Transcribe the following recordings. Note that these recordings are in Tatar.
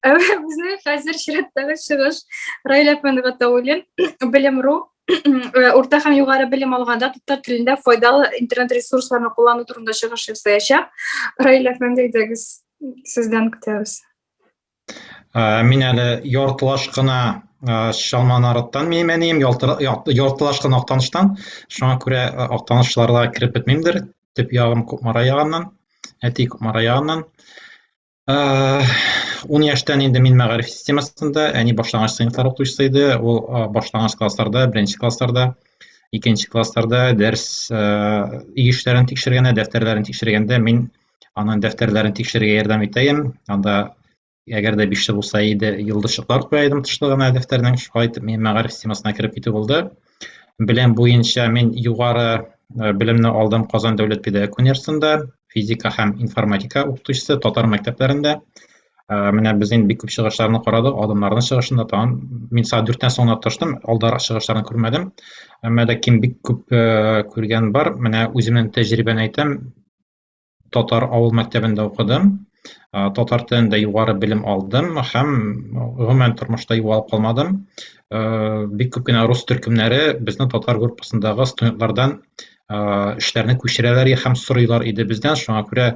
Безнең хәзер чираттагы чыгыш Раилә Фәнова Таулин, Белем.ру э, урта һәм югары белем алганда татар телендә файдалы интернет ресурсларны куллану турында чыгыш ясаячак. Раилә Фәндәйдәгез сездән көтәбез. Ә, мин әле яртылаш кына ә, чалма нарыттан миемәним, яртылаш кына актаныштан. Шуңа күрә ә, актанышларда кереп бетмимдер. Төп ягым Кукмара ягыннан, әти Кукмара ягыннан. Ә, ун яшьтән инде мин мәгариф системасында, әни башлангыч сыйныфлар укытучысы иде. Ул ә, башлангыч классларда, беренче классларда, икенче классларда дәрес ә, иешләрен тикшергәндә, дәфтәрләрен тикшергәндә мин Анын дәфтәрләрен тикшерергә ярдәм итәем. Анда әгәр дә биштә булса иде, йолдызчыклар куя идем тышлыгына дәфтәрнең. Шулай итеп мин мәгариф системасына кереп китү булды. Белем буенча мин югары э, белемне алдым Казан дәүләт педагогик университетында, физика һәм информатика укытучысы татар мәктәпләрендә. Э, менә без инде бик күп чыгышларны карадык, адымнарның чыгышында тагын мин саат дүрттән соң гына тырыштым, алдарак чыгышларны күрмәдем. Әмма ләкин бик күп э, күргән бар. Менә үземнең тәҗрибәне әйтәм, татар авыл мәктәбендә укыдым татар телендә югары белем алдым һәм гомумән тормышта югалып калмадым бик күп кенә рус төркемнәре безнең татар группасындагы студентлардан эшләрне күчерәләр һәм сорыйлар иде бездән шуңа күрә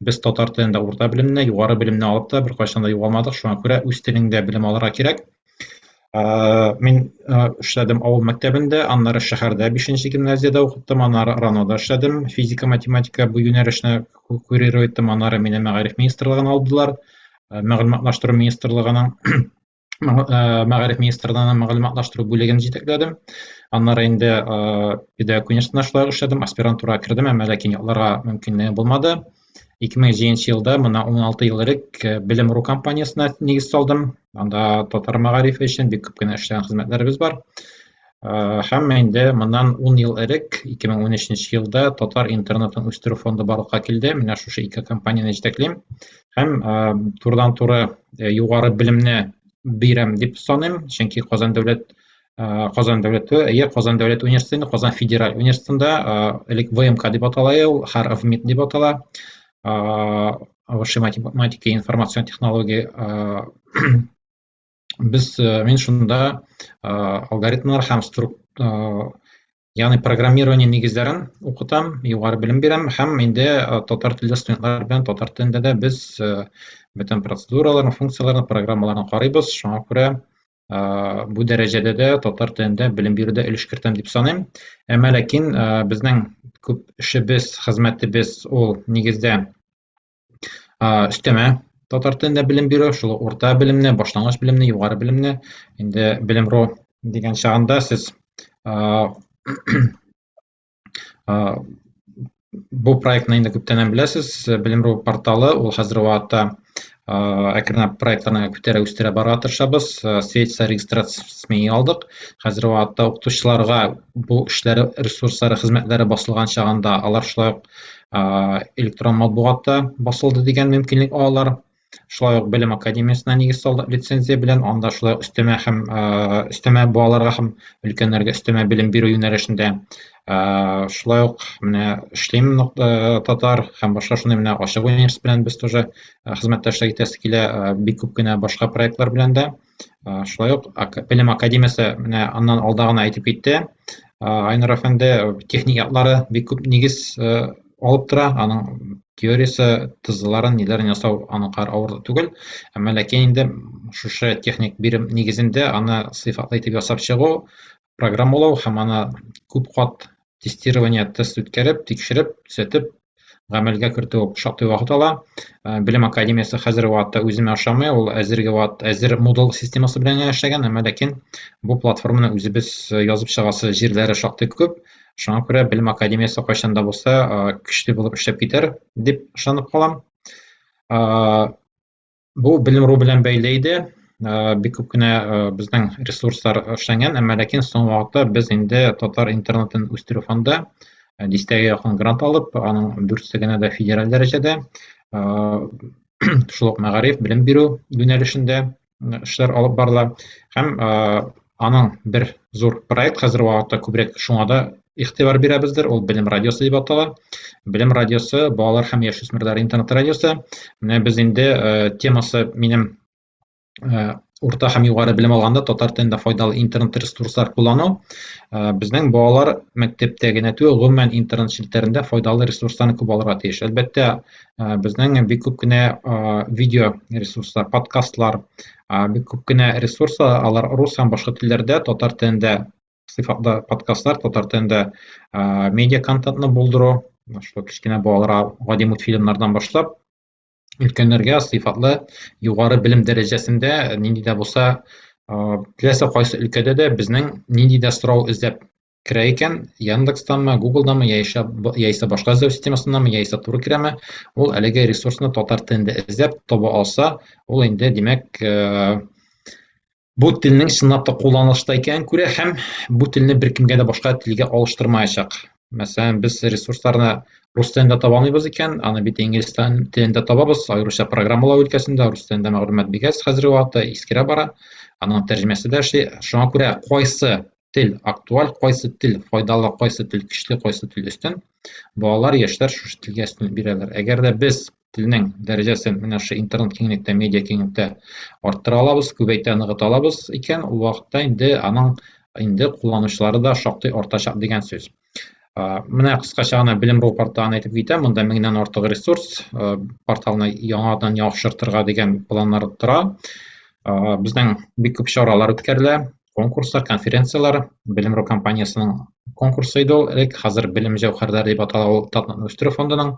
без татар телендә урта белемне югары белемне алып та беркайчан да югалмадык шуңа күрә үз телеңдә белем алырга кирәк Мин эшләдем авыл мәктәбендә, аннары шәһәрдә 5нче гимназиядә укыттым, аннары РАНОда эшләдем, физика-математика бу юнәлешне курировать иттем, аннары мине мәгариф министрлыгына алдылар, мәгълүматлаштыру министрлыгының мәгариф министрлыгының мәгълүматлаштыру бүлеген җитәкләдем. Аннары инде педагог университетында шулай эшләдем, аспирантурага кердем, әмма ләкин ятларга мөмкинлеге булмады. Ике мең җиденче елда, мына уналты ел элек, э, Белем ру компаниясенә нигез салдым. Анда татар мәгарифе өчен бик күп кенә эшләгән хезмәтләребез бар. Э, һәм инде моннан ун ел элек, ике мең унөченче елда татар интернетын үстерү фонды барлыкка килде. Менә шушы ике компанияне җитәклим. Һәм э, турыдан-туры югары белемне бирәм дип саныйм, чөнки Казан дәүләт Э, Казан дәүләт әйе э, Казан дәүләт университеты, Казан федераль университетында э, элек ВМК дип атала ул, хәр ВМИТ дип атала. Высшая математика и информацион технология. Без мин шунда алгоритмнар һәм ягъни программирование нигезләрен укытам, югары белем бирәм һәм инде татар телле студентлар белән татар телендә дә без бөтен процедураларны, функцияләрне, программаларны карыйбыз. Шуңа күрә бу дәрәҗәдә дә татар телендә белем бирүдә өлеш кертәм дип саныйм. Әмма ләкин безнең күп эшебез, хезмәтебез ул нигездә өстәмә татар телендә белем бирү, шул урта белемне, башлангыч белемне, югары белемне. Инде белем ру дигән чагында сез Бу проектны инде күптәннән беләсез. Белемру порталы ул хәзер вакытта әкренләп проектларны күтәрә үстерә бара тырышабыз. Светса регистрациясен алдык. Хәзер вакытта укытучыларга бу эшләре, ресурслары, хезмәтләре басылган чагында алар шулай ук электрон матбугатта басылды дигән мөмкинлек алалар. шулай ук белем академиясенә нигез салдык лицензия белән анда шулай өстәмә һәм өстәмә балаларга һәм өлкәннәргә өстәмә белем бирү юнәлешендә шулай ук менә эшлим татар һәм башка шундый менә ачык университет белән без тоже хезмәттәшлек итәсе килә бик күп кенә башка проектлар белән дә Шулай ук Белем академиясе менә аннан алда гына әйтеп китте. Айнур әфәнде техник яклары бик күп нигез алып тора. Аның теориясе, тызларын, ниләрен ясау аныкар авыр түгел. Әмма ләкин инде шушы техник бирем нигезендә аны сыйфатлы итеп ясап чыгу, программалау һәм аны күп кат тестирование тест үткәреп тикшереп төзәтеп гамәлгә кертү шактый вакыт ала э, белем академиясе хәзерге вакытта үземә ошамый ул әзерге вакыт әзер модул системасы белән генә эшләгән әмма ләкин бу платформаны үзебез э, язып чыгасы җирләре шактый күп шуңа күрә белем академиясе кайчан да булса э, көчле булып эшләп китәр дип ышанып калам Бу белем ру белән бәйле иде. Бик күп кенә безнең ресурслар эшләнгән, әмма ләкин соңгы вакытта без инде татар интернетын үстерү фонды дистәгә якын грант алып, аның дүртсе генә дә федераль дәрәҗәдә шул ук мәгариф, белем бирү юнәлешендә эшләр алып барыла һәм аның бер зур проект хәзер вакытта күбрәк шуңа да игътибар бирәбездер ул белем радиосы дип атала белем радиосы балалар һәм яшүсмерләр интернет радиосы менә без инде э, темасы минем э, урта һәм югары белем алганда татар телендә файдалы интернет ресурслар куллану э, безнең балалар мәктәптә генә түгел гомумән интернет челтәрендә файдалы ресурсларны күп алырга тиеш әлбәттә э, безнең бик күп кенә э, видео ресурслар подкастлар А, бик күп кенә ресурс, алар рус һәм башка телләрдә, татар телендә сыйфатлы подкастлар, татар телендә а, медиа контентны булдыру, шул кечкенә балаларга гади мультфильмнардан башлап, өлкәннәргә сыйфатлы югары белем дәрәҗәсендә нинди дә булса, а, теләсә кайсы өлкәдә дә безнең нинди дә сорау эзләп керә икән, Яндекстанмы, Гуглданмы, яисә, яисә башка эзләү системасыннанмы, яисә туры керәме, ул әлеге ресурсны татар телендә эзләп таба алса, ул инде, димәк, э, бу телнең чынлап та кулланылышта икәнен күрә һәм бу телне беркемгә дә башка телгә алыштырмаячак. Мәсәлән, без ресурсларны рус телендә таба алмыйбыз икән, аны бит инглиз телендә табабыз, аеруча программалау өлкәсендә рус телендә мәгълүмат бик әз хәзерге вакытта, искерә бара, аның тәрҗемәсе дә эшли. Шуңа күрә кайсы тел актуаль кайсы тел файдалы кайсы тел көчле кайсы тел өстен балалар яшьләр шушы телгә өстен бирәләр әгәр дә без телнең дәрәҗәсен менә шушы интернет киңлектә медиа киңлектә арттыра алабыз күбәйтә ныгыта алабыз икән ул вакытта инде аның инде кулланучылары да шактый артачак дигән сүз Менә кыскача гына белем ру порталын әйтеп китәм. Монда меңнән артык ресурс, порталны яңадан яхшыртырга дигән планнар тора. Безнең бик күп чаралар үткәрелә, конкурслар, конференцияләр, белем ру компаниясенең конкурсы иде ул элек, хәзер белем җәүһәрләре дип атала ул Татнакны үстерү фондының.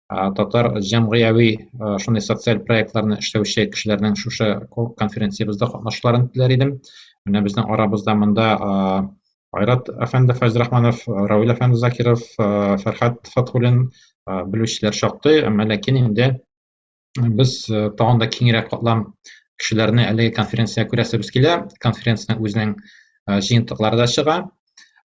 татар җәмгыяви шундый социаль проектларны эшләүче кешеләрнең шушы конференциябездә катнашуларын теләр идем менә безнең арабызда монда айрат әфәнде фәйзрахманов равил әфәнде закиров фәрхәт фатхулин белүчеләр шактый әмма ләкин инде без тагын да киңрәк катлам кешеләрне әлеге конференциягә күрәсебез килә конференциянең үзенең җыентыклары да чыга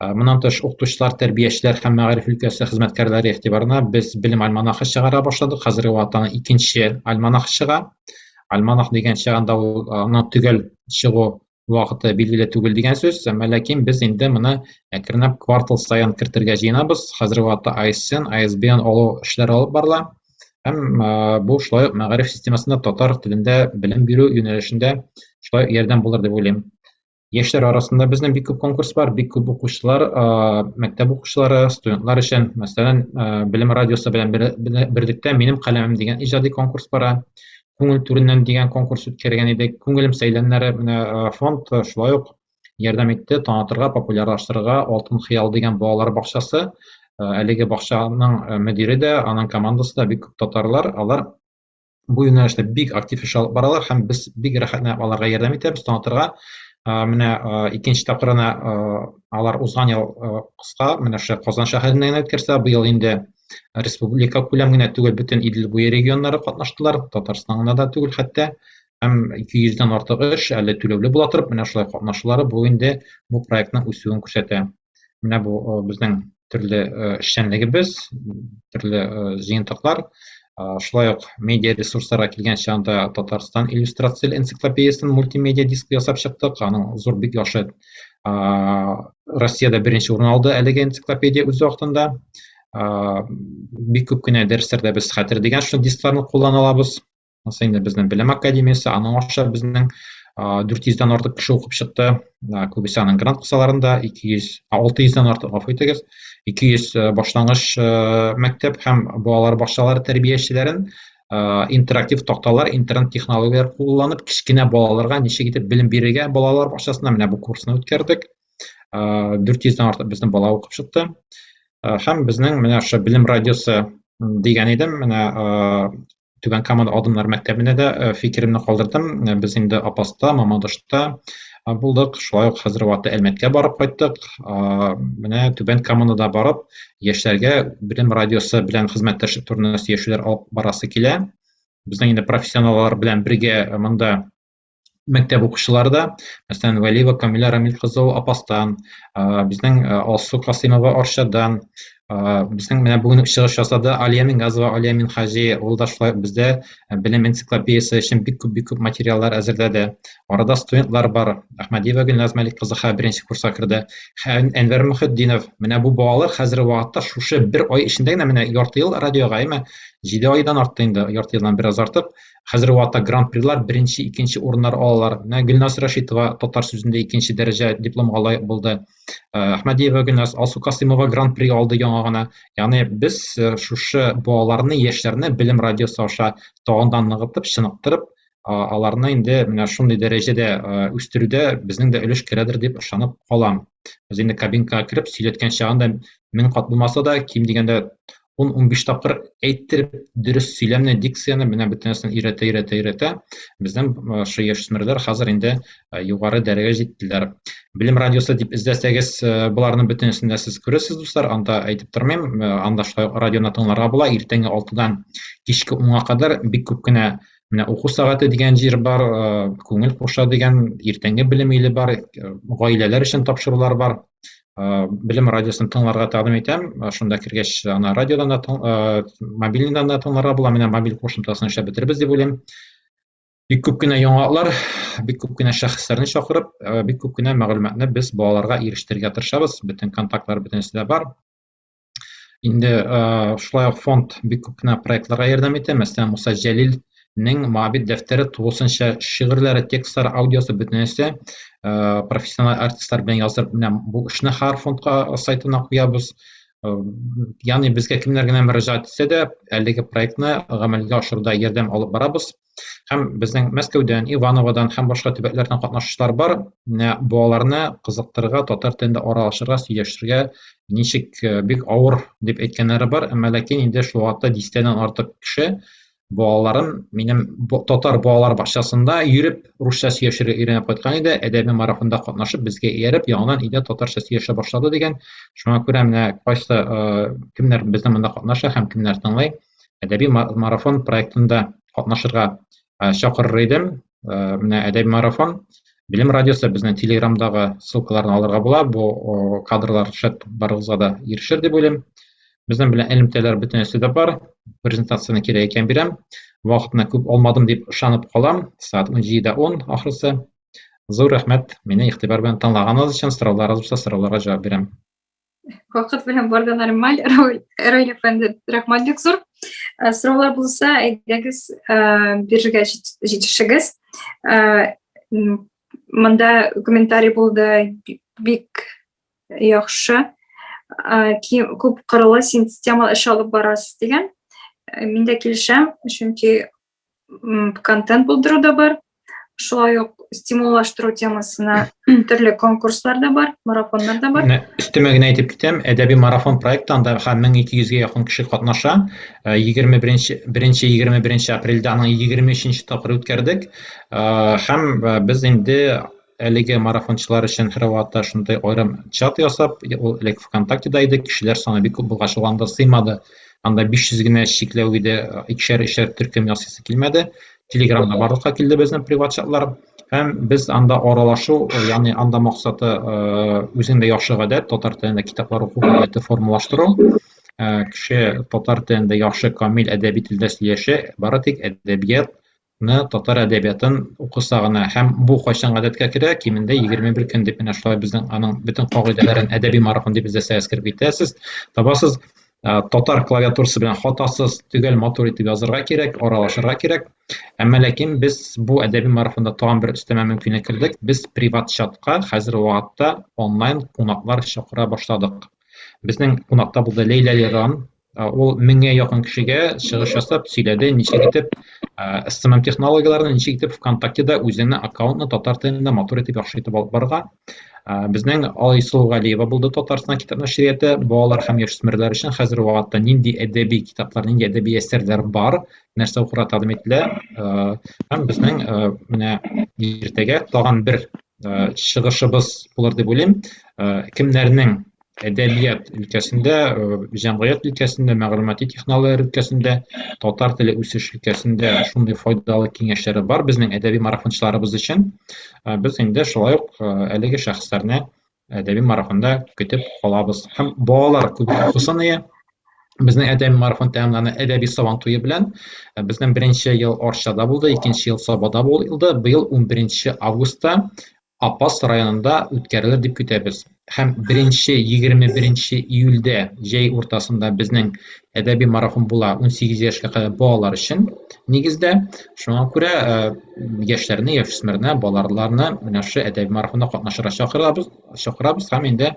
Э, моннан тыш укытучылар тәрбиячеләр һәм мәгариф өлкәсе хезмәткәрләре игътибарына без белем альманахы чыгара башладык хәзерге вакытта икенче альманах чыга альманах дигән чыганда ул э, аның төгәл чыгу вакыты билгеле түгел дигән сүз әмма ләкин без инде моны әкренләп квартал саен кертергә җыенабыз хәзерге вакытта ISN, ISBN алу эшләре алып барыла һәм э, бу шулай ук мәгариф системасында татар телендә белем бирү юнәлешендә шулай ярдәм булыр дип уйлыйм Яшьләр арасында безнең бик күп конкурс бар, бик күп укучылар, мәктәп укучылары, студентлар өчен, мәсәлән, Белем радиосы белән берлектә Минем каләмем дигән иҗади конкурс бара. Күңел түреннән дигән конкурс үткәргән идек. Күңелем сәйләннәре менә фонд шулай ук ярдәм итте танытырга, популярлаштырырга Алтын хыял дигән балалар бакчасы. Әлеге бакчаның мөдире дә, аның командасы да бик күп татарлар. Алар бу юнәлештә бик актив эш алып баралар һәм без бик рәхәтләнеп аларга ярдәм итәбез танытырга менә икенче тапкырына алар узган ел кыска менә шушы казан шәһәрендә генә үткәрсә быел инде республика күләм генә түгел бөтен идел буе регионнары катнаштылар татарстан гына да түгел хәтта һәм ике йөздән артык эш әле түләүле була торып менә шулай катнашулары бу инде бу проектның үсүен күрсәтә менә бу безнең төрле эшчәнлегебез төрле җыентыклар шулай ук медиа ресурсларга килгәнче анда татарстан иллюстрацияле энциклопедиясен мультимедиа диск ясап чыктык аның зур бик яхшы россияда беренче урын алды әлеге энциклопедия үз вакытында бик күп кенә дәресләрдә без хәтер дигән шул дискларны куллана алабыз Анысы инде безнең белем академиясе, аның аша безнең 400-дән артык кеше укып чыкты. Күбесе аның грант кысаларында 200, 600-дән артык гафу итегез. 200 башлангыч мәктәп һәм балалар бакчалары тәрбиячеләрен интерактив такталар, интернет технологияләр кулланып, кечкенә балаларга ничек итеп белем бирергә балалар бакчасында менә бу курсны үткәрдек. 400-дән артык безнең бала укып чыкты. Һәм безнең менә ошо белем радиосы дигән идем, менә Түбән Камада Адымнар мәктәбендә дә э, фикеремне калдырдым. Э, без инде Апаста, Мамадышта э, булдык. Шулай ук хәзер вакытта Әлмәткә барып кайттык. Менә Түбән Камада барып, яшьләргә Белем радиосы белән хезмәттәшлек турында сөйләшүләр алып барасы килә. Безнең инде профессионаллар белән бергә монда мәктәп укучылары да, мәсәлән, Вәлиева Камилә Рамил кызы ул Апастан, безнең Алсу Касыймова Арчадан, безнең менә бүген чыгыш ясады Алия Мингазова, Алия Минхаҗи, ул да шулай бездә белем энциклопедиясе өчен бик күп бик күп материаллар әзерләде. Арада студентлар бар. Әхмәдиева Гөлназ Мәлик кызы хәзер беренче курска керде. Әнвәр Мөхетдинов, менә бу балалар хәзерге вакытта шушы бер ай эчендә генә менә ярты ел радиога, әйме, 7 айдан артты инде, ярты елдан бераз артып, Хәзерге вакытта гран-прилар беренче, икенче урыннар алалар. Менә Гөлназ Рәшитова татар сүзендә икенче дәрәҗә дипломга лаек булды. Э, Әхмәдиева Гөлназ, Алсу Касыймова гран-при алды яңа гына. Ягъни без э, шушы балаларны, яшьләрне Белем радиосы аша тагын да ныгытып, чыныктырып, аларны инде менә шундый дәрәҗәдә э, үстерүдә безнең дә өлеш керәдер дип ышанып калам. Без инде кабинкага кереп сөйләткән чагында мең кат булмаса да, ким дигәндә 10-15 тапкыр әйттереп дөрес сөйләмне, дикцияне менә бөтен нәрсәне өйрәтә, өйрәтә, өйрәтә. Безнең шул яшүсмерләр хәзер инде югары дәрәҗәгә җиттеләр. Белем радиосы дип эзләсәгез, боларның бөтенесен дә сез күрәсез, дуслар. Анда әйтеп тормыйм, анда шулай радионы тыңларга була. Иртәнге 6-дан кичке 10-га кадәр бик күп кенә Менә уку сәгате дигән җир бар, күңел куша дигән иртәнге белем иле бар, гаиләләр өчен тапшырулар бар. Белем радиосын тыңларга тәкъдим итәм. Шунда кергәч, ана радиодан да, мобильныйдан да тыңларга була. Менә мобиль кушымтасын эшләп бетербез дип уйлыйм. Бик күп кенә яңалыклар, бик күп кенә шәхесләрне чакырып, бик күп кенә мәгълүматны без балаларга ирештерергә тырышабыз. Бөтен контактлар бөтенесе дә бар. Инде э, шулай ук фонд бик күп кенә проектларга ярдәм итә. Мәсәлән, Муса Җәлилнең Моабит дәфтәре тулысынча шигырьләре, текстлары, аудиосы бөтенесе э, профессиональ артистлар белән язып, менә бу эшне Хар фондка э, сайтына куябыз. Ягъни безгә кемнәр генә мөрәҗәгать итсә дә, әлеге проектны гамәлгә ашыруда ярдәм алып барабыз. һәм безнең мәскәүдән ивановодан һәм башка төбәкләрдән катнашучылар бар менә балаларны кызыктырырга татар телендә аралашырга сөйләшергә ничек э, бик авыр дип әйткәннәре бар әмма ләкин инде шул вакытта дистәдән артык кеше балаларын минем татар балалар бакчасында йөреп русча сөйләшергә өйрәнеп кайткан иде әдәби марафонда катнашып безгә ияреп яңадан өйдә татарча сөйләшә башлады дигән шуңа күрә менә кайсы э, кемнәр безнең монда катнаша һәм кемнәр тыңлый әдәби марафон проектында катнашырга чакырыр идем. Менә әдәби марафон Билем радиосы безнең телеграмдагы ссылкаларны алырга була. Бу кадрлар шәт барыгызга да ирешер дип уйлыйм. Безнең белән элемтәләр бөтенесе дә бар. Презентацияне кирәк икән бирәм. Вакытны күп алмадым дип ышанып калам. Сәгать 17:10 он ахрысы. Зур рәхмәт, мине игътибар белән тыңлаганыгыз өчен, сорауларыгыз булса, сорауларга җавап бирәм. вакыт белән барда нормаль роль әфәнде рәхмәт бик зур э, сораулар булса әйдәгез э, бирергә җитешегез э, монда комментарий булды бик яхшы күп кырлы системалы эш алып барасыз дигән мин дә килешәм чөнки контент булдыру да бар шулай ук стимуллаштыру темасына төрле конкурслар да бар марафоннар да бар өстәмә генә әйтеп китәм әдәби марафон проектында һәм мең ике йөзгә якын кеше катнаша э, егерме беренче беренче егерме беренче апрельдә аның егерме өченче тапкыры үткәрдек э, һәм э, без инде Әлеге марафончылар өчен һәрвакытта шундый аерым чат ясап, ул элек ВКонтактеда иде, кешеләр саны бик күп булгач, ул анда сыймады. Анда 500 генә чикләү иде, икешәр-өчәр төркем ясыйсы килмәде. Телеграмда барлыкка килде безнең приват чатлар. Һәм без анда аралашу, ягъни анда максаты үзеңдә яхшы гадәт, татар телендә китаплар уку гадәте формалаштыру. Кеше татар телендә яхшы, камил әдәби телдә сөйләшә, бары тик әдәбият татар әдәбиятын укыса гына һәм бу кайчан гадәткә керә кимендә егерме бер көн дип менә шулай безнең аның бөтен кагыйдәләрен әдәби марафон дип бездә сәясәт кереп китәсез табасыз татар клавиатурасы белән хатасыз төгәл матур итеп язырга кирәк аралашырга кирәк әмма ләкин без бу әдәби марафонда тагын бер өстәмә мөмкинлек кердек без приват чатка хәзер вакытта онлайн кунаклар чакыра башладык безнең кунакта булды ләйлә леран Ул меңгә якын кешегә чыгыш ясап сөйләде, ничек итеп SMM технологияләрне, ничек итеп ВКонтактеда үзеңне аккаунтны татар телендә матур итеп яхшы итеп алып барга. Безнең Алайсыл Галиева булды Татарстан китап нәшрияте балалар һәм яшүсмерләр өчен хәзер вакытта нинди әдәби китаплар, нинди әдәби әсәрләр бар, нәрсә укырга тәкъдим ителә. Һәм безнең менә иртәгә тагын бер чыгышыбыз булыр дип уйлыйм. Кемнәрнең әдәбият өлкәсендә, э, җәмгыять өлкәсендә, мәгълүмати технологияләр өлкәсендә, татар теле үсеш өлкәсендә шундый файдалы киңәшләре бар безнең әдәби марафончыларыбыз өчен. Э, без инде шулай ук э, әлеге шәхесләрне әдәби марафонда көтеп калабыз. Һәм балалар күп укысын ие. Безнең әдәби марафон тәмамлана әдәби сабан туе белән. Безнең беренче ел Арчада булды, икенче ел Сабада булды. Быел 11 августта Апас районында үткәрелер дип көтәбез. Һәм беренче 21 нче июльдә җәй уртасында безнең әдәби марафон була 18 яшькә кадәр балалар өчен, нигездә. Шуңа күрә яшьләрне, яшүсмерне, балаларны менә шушы әдәби марафонда катнашырга чакырабыз, чакырабыз һәм инде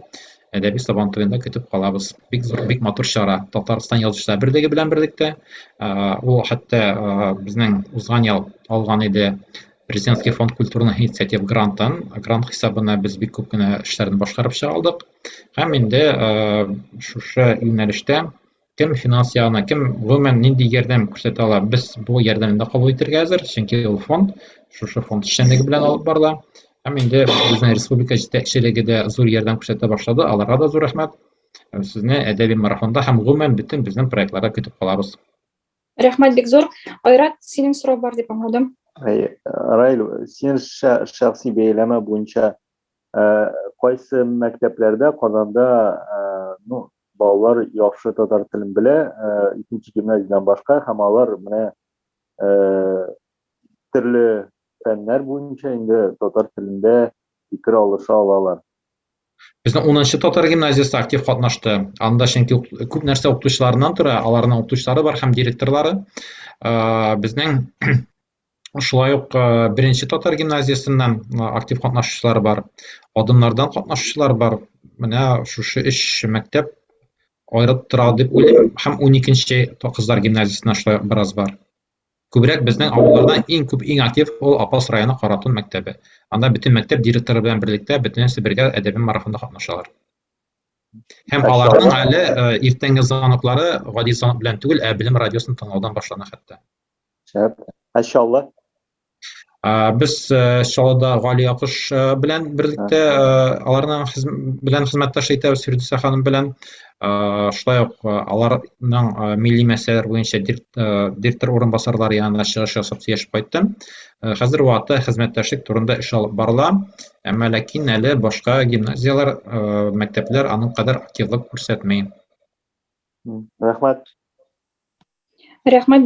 әдәби Сабан туенда көтеп калабыз. Бик зур, бик матур чара. Татарстан Язучылар берлеге белән берлектә. Ул хәтта безнең узган ял алган иде президентский фонд культурных инициатив грантын грант хисабына без бик күп кенә эшләрне башкарып чыга алдык һәм инде шушы юнәлештә кем финанс ягына кем гомумән нинди ярдәм күрсәтә ала без бу ярдәмне кабул итәргә әзер чөнки ул фонд шушы фонд эшчәнлеге белән алып барыла һәм инде безнең республика җитәкчелеге дә зур ярдәм күрсәтә башлады аларга да зур рәхмәт сезне әдәби марафонда һәм гомумән бөтен безнең проектларда көтеп калабыз Рәхмәт бик зур. Айрат, синең сорау бар дип аңладым. Раил, син шәхси бәяләмә буенча кайсы мәктәпләрдә Казанда ну балалар яхшы татар телен белә, икенче гимназиядән башка һәм алар менә төрле фәннәр буенча инде татар телендә фикер алыша алалар. Безнең 10нчы татар гимназиясе актив катнашты. Анда чөнки күп нәрсә укытучыларыннан тора, аларның укытучылары бар һәм директорлары. Безнең шулай ук беренче татар гимназиясеннән актив катнашучылар бар. Адымнардан катнашучылар бар. Менә шушы өч мәктәп аерып тора дип уйлыйм. Һәм 12нче кызлар гимназиясеннән шулай бераз бар. Күбрәк безнең авылларда иң күп, иң актив ул Апас районы Каратун мәктәбе. Анда бөтен мәктәп директоры белән берлектә бөтенесе бергә әдәби марафонда катнашалар. Һәм аларның әле э, иртәнге звоноклары гади звонок белән түгел, ә Белем радиосын тыңлаудан башлана хәтта. Шәп. Мәшәлла. Без Чаллыда Гали Якуш белән берлектә аларның белән хезмәттәш итәбез Фирдүсә ханым белән. Шулай ук аларның милли мәсьәләләр буенча директор урынбасарлары янына чыгыш ясап сөйләшеп кайттым. Хәзер вакытта хезмәттәшлек турында эш алып барыла. Әмма ләкин әле башка гимназияләр, мәктәпләр аның кадәр активлык күрсәтми. Рәхмәт. Рәхмәт.